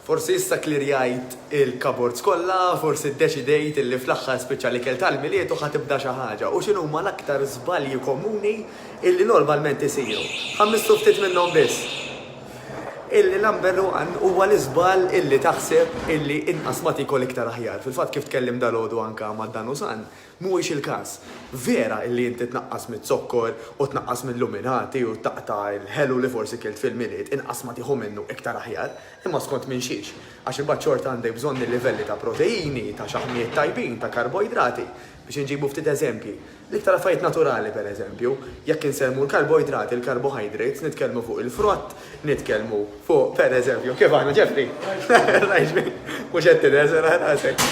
Forsi issa klirjajt il-cupboards kollha, forsi ddeċidejt illi fl-aħħar spiċċa l-ikel tal-Milied u ħa tibda xi ħaġa. U x'inhuma l-aktar żbalji komuni illi normalment isiru? Ħa mmissu ftit minnhom biss. Il-number one huwa l-iżball illi taħseb illi inqas ma tikol iktar aħjar. Fil-fatt kif tkellimt dalgħodu anke ma' Danusan, Mhuwiex il-każ. Vera illi inti tnaqqas miz-zokkor u tnaqqas mil-luminati u taqta' l-ħelu li forsi kilt fil-Milied, inqas ma tieħu minnu iktar aħjar, imma skont minn xiex? Għax imbagħad xorta għandek bżonn il-livelli ta' proteini, ta' xaħmijiet tajbin, ta' karboidrati. Biex inġibu ftit eżempji, l-iktar affarijiet naturali pereżempju, jekk insemmu l-karboidrati, l-carbohydrates, nitkellmu fuq il-frott, Nitkellmu fuq, per eżempju, kif aħna Jeffrey? Mhux qed tirreżel għal rasek.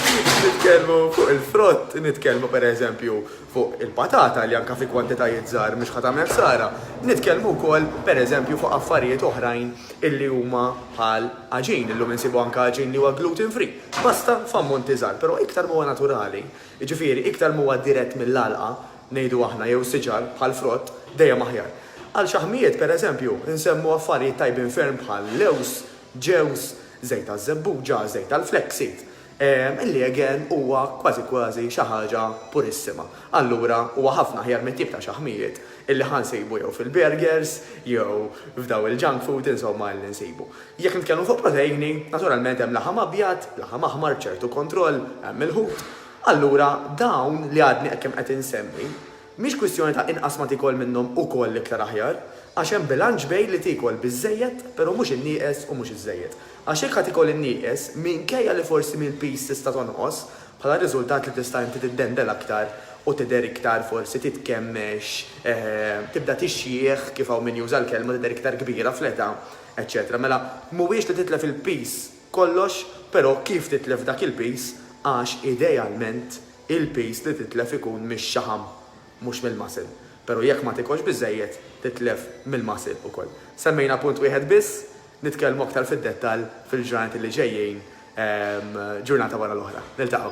Nitkellmu fuq il-frott, nitkellmu per eżempju fuq il-patata li anka fi kwantitajiet żgħar mhux ħa tagħmel ħsara. Nitkellmu wkoll per eżempju fuq affarijiet oħrajn illi huma bħal għaġin, illum insibu anka għaġin li huwa gluten free. Pasta f'ammonti żgħar, però iktar m'huwa naturali, jiġifieri iktar m'huwa dirett mill-għalqa, ngħidu aħna, jew siġar, bħal frott, dejjem aħjar. Għal xaħmijiet, per eżempju, insemmu affarijiet tajbin ferm bħal lewż, ġewż, żejt taż-żebbuġa, żejt tal-flaxseed. Il-liegen huwa kważi kważi xi ħaġa purissima. Allura huwa ħafna aħjar mit-tip ta' xaħmijiet illi ħa nsibu jew fil-burgers jew f'daw il-junk food insomma illi nsibu. Jekk nitkellmu fuq proteini, naturalment hemm laħam abjad, laħam aħmar b'ċertu kontroll, hemm il-ħut, Allura, dawn li għadni hekk qed insemmi, mhix kwistjoni ta' inqas ma tiekol minnhom ukoll iktar aħjar, għax hemm bilanċ bejn li tiekol biżżejjed però mhux in-nieqes u mhux iż-żejjed. Għax jekk ħa tiekol in-nieqes, minkejja li forsi mill-piż tista' tonqos, bħala riżultat li tista' inti tiddendel aktar u tidher iktar forsi titkemmex, tibda tixjieħ, kif hawn min juża l-kelma, tidher iktar kbira fl-età, eċċetera Mela, mhuwiex li titlef il-piż Kollox, però kif titlef dak il-piż għax idealment il-piż li titlef ikun mix-xaħam mhux mill-muscle, però jekk ma tikolx biżżejjed titlef mill-muscle ukoll. Semmejna punt wieħed biss, nitkellmu aktar fid-dettall fil-ġranet li ġejjin ġurnata wara l-oħra. Niltaqgħu.